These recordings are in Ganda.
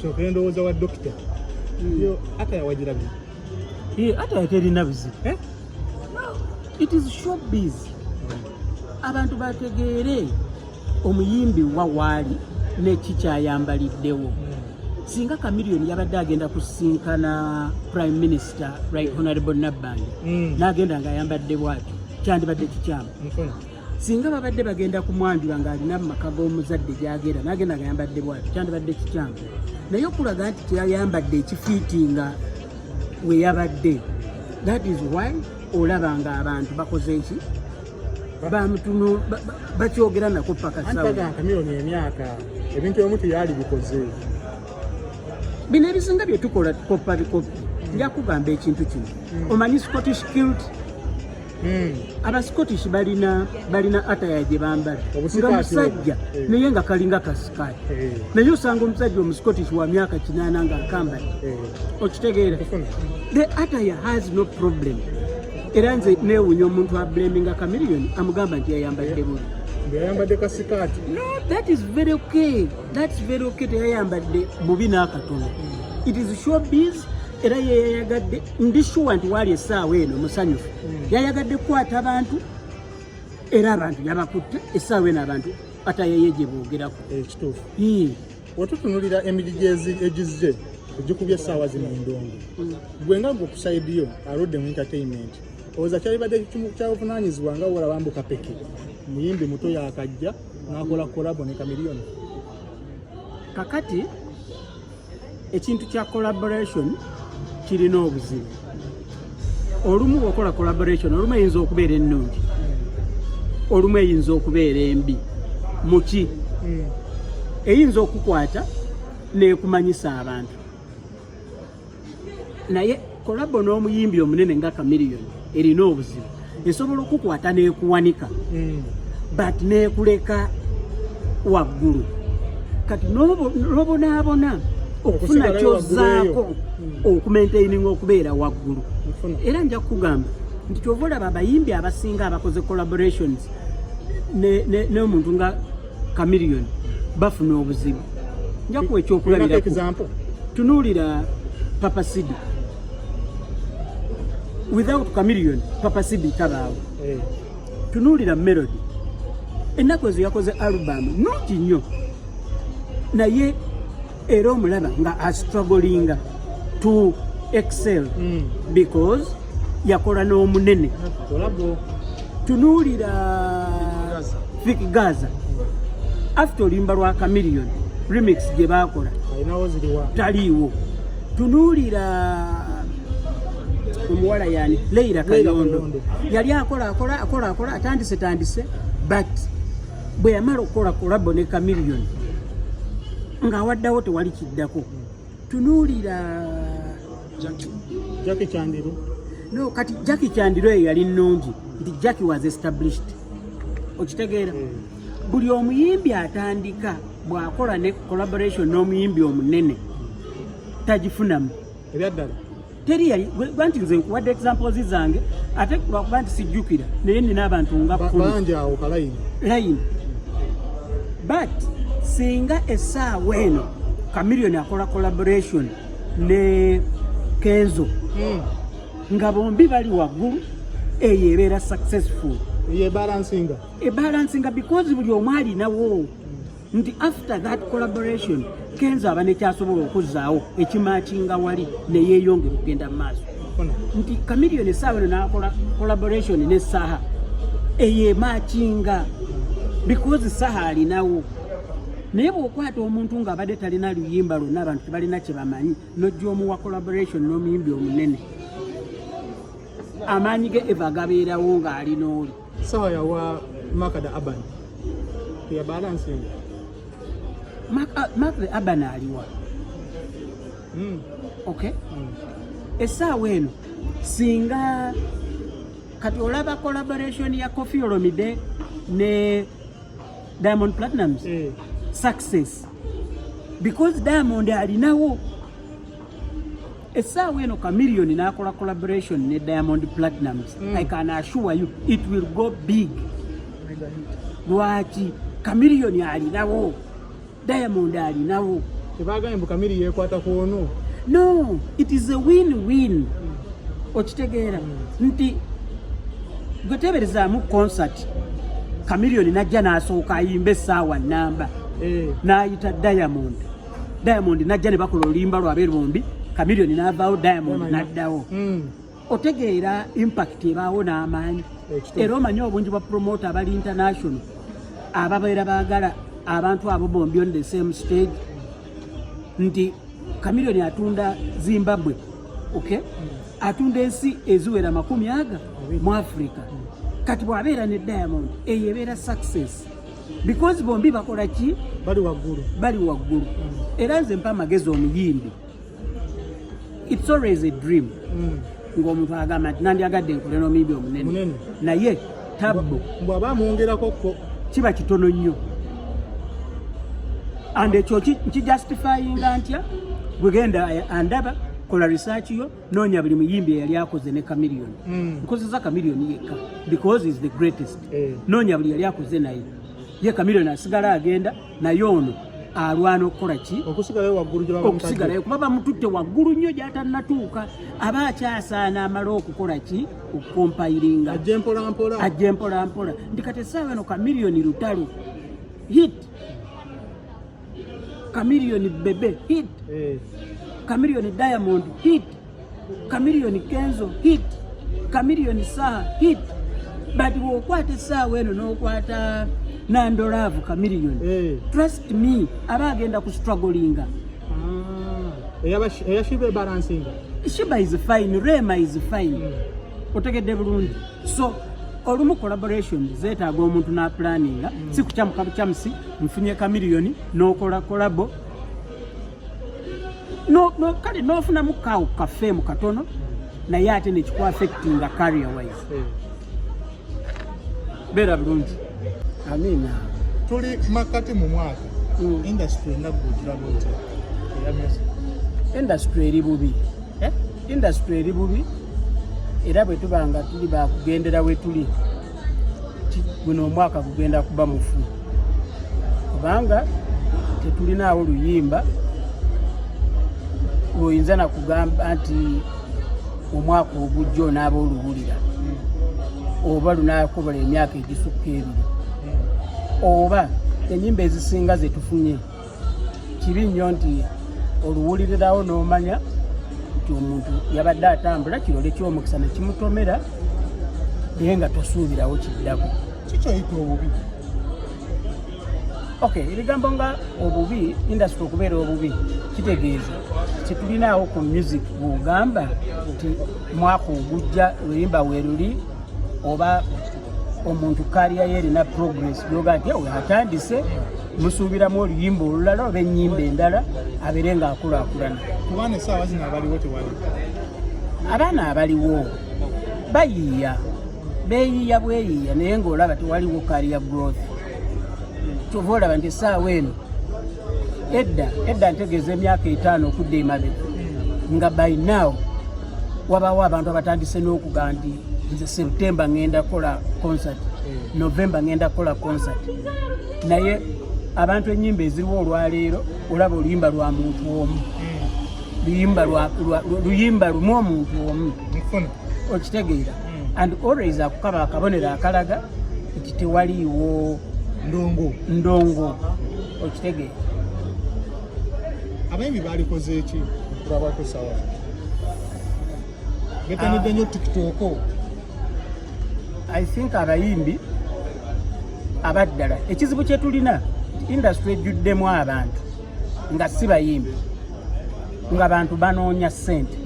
kyoka endowooza wa dokita hmm. yo ata yawagirabye eh, ata yakerina bizibu eh? it is showbiz abantu bategeere omuyimbi wa waali neki kyayambaliddewo hmm. singa kamiliyoni yabadde agenda kusinkana prime minister right honorable nabbandi hmm. n'agenda ng'ayambadde bwati kyandibadde kikyamu singa babadde bagenda kumwanjula ng'alina mu maka g'omuzadde gyagenda nagenda ngayambadde bwati kyandibadde kikyamu naye okulaga nti teyayambadde ekifiiti nga weyabadde that is why olaba nga abantu bakoze eki bamutuno bakyogera nako paka sawakamiyoni emyaka ebintu ebimu teyali bikoze bino ebisinga byetukola koppa bikoppi njakugamba ekintu kino hmm. omanyi scottish kilt Hmm. aba scottish balina balina ataya gye bambala nga musajja eh. naye nga kalinga kasikaali eh. naye osanga omusajja omuscottish wa myaka kinaana nga akambali eh. okitegeera the ataya has no problem era nze newunya omuntu ablaminga kamiliyoni amugamba nti yayambadde bubi yayambadde kasikaati no that is very okay that's very okay teyayambadde bubi n'akatono hmm. it is showbiz era yeyayagadde ndi shuwa nti waali essaawa eno musanyufu hmm. yayagadde kukwata abantu era abantu yabakutte essaawa eno abantu atayeye gye boogerako ekituufu eh, wetutunulira emidi egizze ogikubye essaawa zino endongo hmm. gwe nga gwe kusaidiyo aludde mu entertainment oza kyalibadde kyabuvunanyizibwa nga wola bambuka peke muyimbi muto yakajja nakola kolabo ne kamiliyoni kakati ekintu kya collaboration kirina obuzibu olumu okola collaboration olumu eyinza okubeera ennungi olumu eyinza okubeera embi muki hmm. eyinza okukwata nekumanyisa abantu naye Kolabo n'omuyimbi omunene nga Chameleon erina obuzibu esobola okukwata n'ekuwanika mm. but n'ekuleka waggulu kati n'obonaabona okufuna kyozaako hmm. okumentaininga okubeera waggulu era nja kukugamba nti kyova olaba abayimbi abasinga abakoze collaborations n'omuntu nga Chameleon bafuna obuzibu nja kuwa ekyokulabirako tunuulira papa sidi without chameleon papa sidi tabaawo hey. Eh. tunuulira melody ennaku ezo yakoze alubamu nungi nnyo naye era omulaba nga astrugglinga to excel mm. because yakola n'omunene tunuulira fik gaza after olimba lwa camilion remix gye baakola taliiwo tunuulira omuwala yani leira kayondo yali akola akola akola akola atandise tandise but bwe yamala okukola kolabo ne kamiliyoni ng'awaddawo tewali kiddako tunuulira jaki kyandiro no kati jaki kyandiro eyo yali nnungi nti jaki was established okitegeera hmm. buli omuyimbi atandika bw'akola ne collaboration n'omuyimbi omunene tagifunamu ebyaddala teri yali gwanti nze nkuwadde examples zange ate lwakuba nti sijjukira naye nina abantu nga bangi awo kalayini layini but singa essaawa eno kamiliyoni akola collaboration ne kenzo hmm. nga bombi bali waggulu eyo ebeera successful ebalansinga ebalansinga because buli omu alinawo nti after that collaboration kenzo aba nekyasobola okuzzaawo ekimakinga wali neyeyongera okugenda mu maaso nti kamilion esaawa eno nakola collaboration ne saha eyo emakinga because saha alinawo naye bwokwata omuntu nga abadde talina luyimba lwonna abantu tebalina kyebamanyi nojja omuwa collaboration n'omuyimbi omunene amaanyi ge eva gabeerawo ng'alina oli sawa ya wa maka da aban ya balance ne maka maka da aban aliwa mm. okay mm. esaawa eno singa kati olaba collaboration ya Koffi Olomide ne Diamond Platnumz eh. success because Diamond alinawo essaawa eno kamiliyoni n'akola collaboration ne diamond platinums mm. i can assure you it will go big lwaki kamiliyoni alinawo diamond alinawo tebagambye mbu kamiri yekwata ku ono no it is a win win okitegeera mm. nti gwe teberezaamu concert kamiliyoni najja n'asooka ayimba essaawa namba eh. n'ayita diamond Diamond najja ne bakola olimba lwa beeru bombi Chameleon n'avaawo Diamond n'addawo hmm. otegeera impact ebaawo n'amaanyi era omanyi obungi bwa promote abali international ababeera baagala abantu abo bombi on the same stage nti Chameleon atunda Zimbabwe okay hmm. atunda ensi eziwera makumi aga mu Africa hmm. kati bw'abeera ne Diamond eyo ebeera success because bombi bakola ki bali waggulu bali waggulu era nze mpa amagezi omuyimbi it's always a dream mm. ng'omuntu agamba nti nandyagadde nkole n'omuyimbi omunene naye tabbu mbwaba amwongerako ko kiba kitono nnyo and ekyo nkijustifyinga ntya gwegenda eh, andaba kola research yo Nonya buli muyimbi yali akoze ne Chameleon. Mm. Nkozeza Chameleon yekka because is the greatest. Eh. Nonya buli yali akoze naye. Ye Chameleon asigala agenda naye ono alwana okukola ki okusigalayo waggulu gye okusigalayo kuba bamututte waggulu nnyo gy'atannatuuka aba akyasaana amala okukola ki okukompayiringa ajje mpolampola ajje mpolampola ndi kati essaawa eno kamiliyoni lutalo hit Chameleon Bebe hit. Eh. Chameleon Diamond hit. Chameleon Kenzo hit. Chameleon Saha hit. But wokwata esaawa eno n'okwata nandolaavu Chameleon. Eh. Trust me aba agenda ku strugglinga. Ah. Eya Shiba ebalansinga. Shiba is fine, Rema is fine. Mm. Otegedde bulungi. So olumu collaboration zetaaga omuntu n'apulaninga mm. si kukyamuka bukyamusi nfunye kamiliyoni nokola kolabo no, no, kale nofunamu kawo kafeemu katono naye ate nekikuafectinga career wise hmm. beera bulungi amina tuli makati mu mwaka hmm. industry enagujirabu nti industry eri bubi eh? industry eri bubi era bwetuba nga tuli bakugendera wetuli guno omwaka gugenda kuba mufu kubanga tetulinaawo luyimba lwoyinza nakugamba nti omwaka ogujja onaaba oluwulira oba lunakobola emyaka egisukka ebiri oba enyimba ezisinga zetufunye kibi nnyo nti oluwulirirawo n'omanya nti omuntu yabadde atambula kirole ky'omukisa ne kimutomera naye nga tosuubirawo kiddako kikyoyita obubi ok ebigambo nga obubi industry okubeera obubi kitegeeza kyetulinaawo ku music bwogamba nti mwaka ogujja luyimba weruli oba omuntu kaliya yerina progress yoga nti atandise musuubiramu oluyimba olulala oba ennyimba endala abeere ng'akulaakulana kubaana essaawa zino abaliwo tewali abaana abaliwo bayiiya beeyiiya bweyiiya naye ng'olaba tewaliwo kariya growth kyova olaba nti essaawa eno edda edda ntegeeza emyaka etaano okudda emabe nga by now wabaawo abantu abatandise n'okuga nti nze septemba ngenda kukola concert novemba ngenda kukola concert naye abantu enyimba eziriwo olwaleero olaba oluyimba lwa muntu omu luyimba luyimba lumu omuntu omu okitegeera hmm. and always akukaba akabonero akalaga nti tewaliiwo ndongo ndongo okitegeera abayimbi balikoze eki okulabako sawa betanidde nyo tikitoko ah. i think abayimbi abaddala ekizibu kyetulina industry ejjuddemu abantu nga si bayimbi nga bantu banoonya sente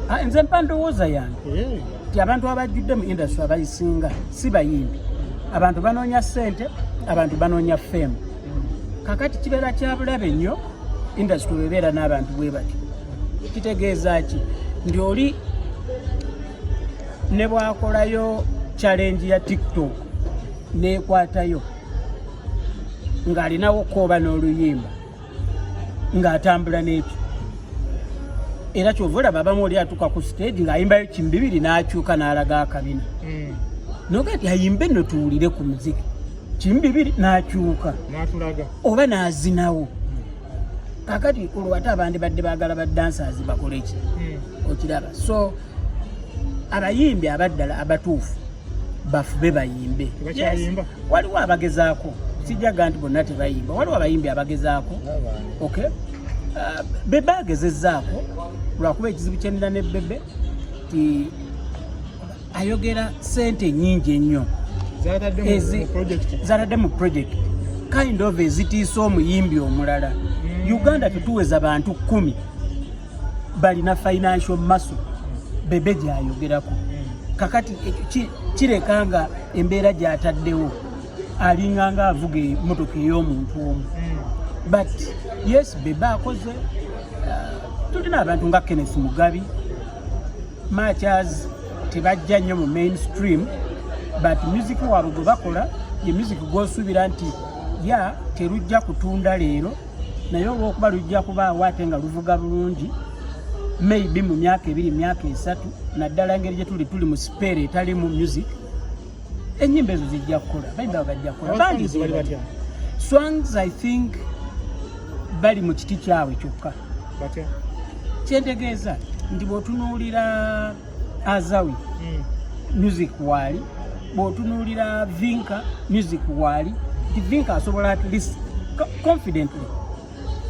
ah, nze mpa ndowooza yange eh. ti abantu abajjudde mu industry abayisinga si bayimbi abantu banoonya sente abantu banoonya fame kakati kibeera kyabulabe nnyo industry webeera n'abantu bwe batyo kitegeeza ki ndi oli ne bwakolayo challenge ya tiktok nekwatayo ng'alinawo kooba n'oluyimba ng'atambula n'ekyo era kyova olaba abamu oli atuuka ku stage ng'ayimbayo kimu bibiri n'akyuka n'alaga akabina hmm. noga ti ayimbe no tuwulire ku muziki kimu bibiri n'akyuka oba n'azinawo kakati olwo ate abandibadde baagala ba dancers bakole ki hmm. okiraba so abayimbi abaddala abatuufu bafube bayimbe waliwo abagezaako sijaga nti bonna tebayimba waliwo abayimbi abagezaako ok uh, bebe agezezaako lwakuba ekizibu kyenira ne bebe ti ayogera sente nyingi ennyo zatadde mu project kind of ezitiisa omuyimbi omulala mm. uganda tetuweza bantu kumi balina financial maso bebe gyayogerako mm. kakati eh, kireka nga embeera gyataddewo alinganga avuga emotoka ey'omuntu omu mm. but yes bebe akoze uh, tulina abantu nga kenneth mugabi much as tebajja nnyo mu mainstream but music waabwe gwe bakola ye music gwosuubira nti ya terujja kutunda leero naye olwokuba lujja kubaawo ate nga luvuga bulungi maybe mu myaka ebiri myaka esatu naddala engeri gyetuli tuli mu sipeera etalimu music enyimba ezo zijja kukola bayimba bagajja kukola bandi bali batya swans i think bali mu kiti kyabwe kyokka batya kyentegeeza nti bwotunuulira azawi hmm. music waali bwotunuulira vinka music waali nti vinka asobola at least confidently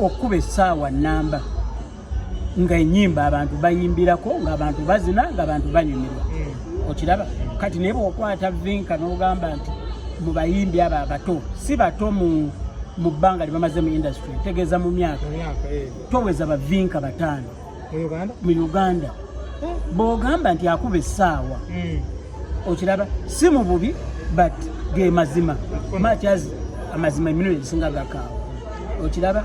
okukuba essaawa namba nga enyimba abantu bayimbirako nga abantu bazina nga abantu banyumirwa hmm. okiraba kati naye bwokwata vinka nogamba nti mu bayimbi abo abato si bato mu mu bbanga lyebamaze mu industry tegeeza mu myaka eh. toweza bavinka bataano mu uganda eh. bwogamba nti akuba essaawa hmm. okiraba si mu bubi but ge mazima machazi amazima emirundi egisinga gakaawa okiraba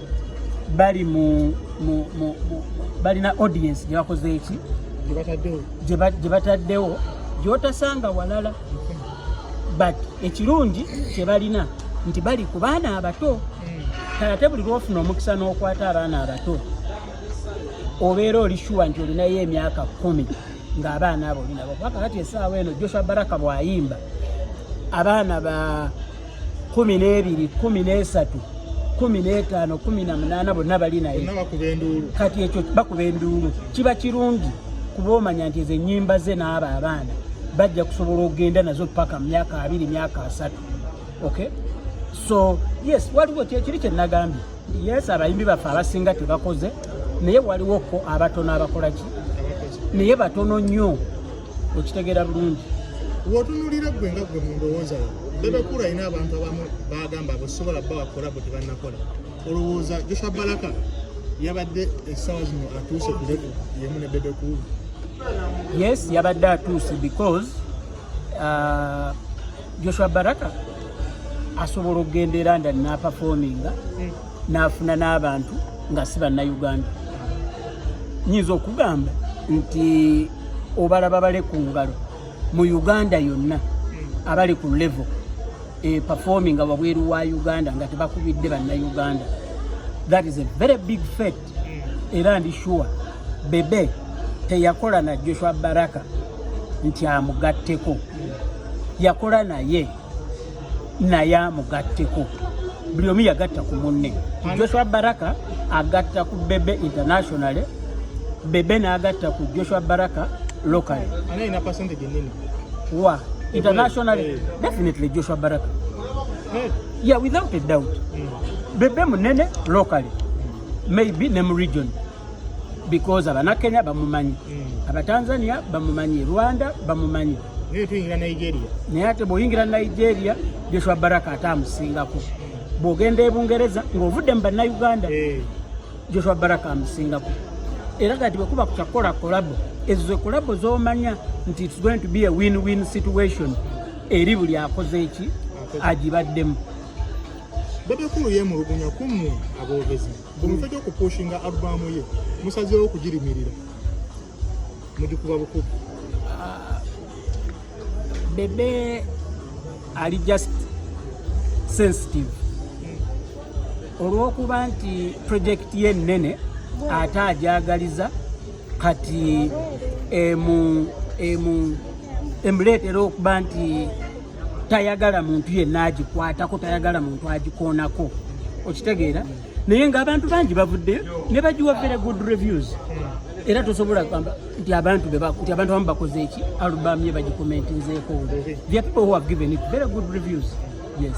bali mu balina audience gye bakoze eki gye bataddewo gyotasanga walala but ekirungi kye balina nti bali ku baana abato kale ate buli lwofuna omukisa n'okwata abaana abato obeera oli shuwa nti olinayo emyaka kumi ng'abaana abo olinabo kubakakati esaawa eno joshua baraka bwayimba abaana ba kumi n'ebiri kumi n'esatu kumi n'etaano kumi na munaana bonna bali naye kati ekyo bakuba enduulu kiba kirungi kuba omanya nti ezo ennyimba ze n'abo abaana bajja kusobola okugenda nazo paka mu myaka abiri myaka asatu okay so yes waliwo kyekiri kyenagambye yes abayimbi baffe abasinga tebakoze naye waliwoko abatono abakolaki naye batono nnyo okitegera bulungi wotunulira gwe nga gwe mundowooza yo bebekulu alina abantu abamu bagamba bwesobola bba wakola bwe tebanakola olowooza joshua balaka yabadde essaawa zino atuuse ku levu yemu ne bebekulu yes yabadde atuuse because uh, joshua baraka asobola okugenda eranda napafominga mm. n'afuna n'abantu nga si bannayuganda nyinza okugamba nti obalaba bale ku ngalo mu uganda yonna abali ku levo e performing nga wabweru wa uganda nga tebakubidde bannayuganda that is a very big fet era ndi sure bebe teyakola na joshua baraka nti amugatteko yakola naye naye amugatteko buli omu yagatta ku munne joshua baraka agatta ku bebe internationally bebe n'agatta ku joshua baraka locally wa internationally eh. definitely joshua baraka eh. yeah without a doubt hmm. bebe munene locally maybe ne mu region because abanakenya bamumanyi hmm. abatanzania bamumanyi rwanda bamumanyi naye ate bwoyingira nigeria joshua baraka ate amusingako bwogenda ebungereza ngaovudde mu bannayuganda eh. joshua baraka amusingako era kati bwekuba kukyakukola kolabo ezo zekolabo zomanya nti its going to be a win win situation eri buli akoze eki agibaddemu bebe kulu yemulugunya kumu abogezi Mu bifo gy'okupuushinga albaamu ye musazeewo okugirimirira mugikuba bukubi. Ah, Bebe ali just sensitive hmm. olw'okuba nti project ye nnene ate agyagaliza kati emu emu emuleetera okuba nti tayagala muntu yenna agikwatako tayagala muntu agikoonako okitegeera naye nga abantu bangi bavuddeyo ne bagiwa very good reviews era tosobola kugamba nti abantu nti abantu abamu bakoze eki alubamu ye bagikomentinzeeko the people who have given it very good reviews yes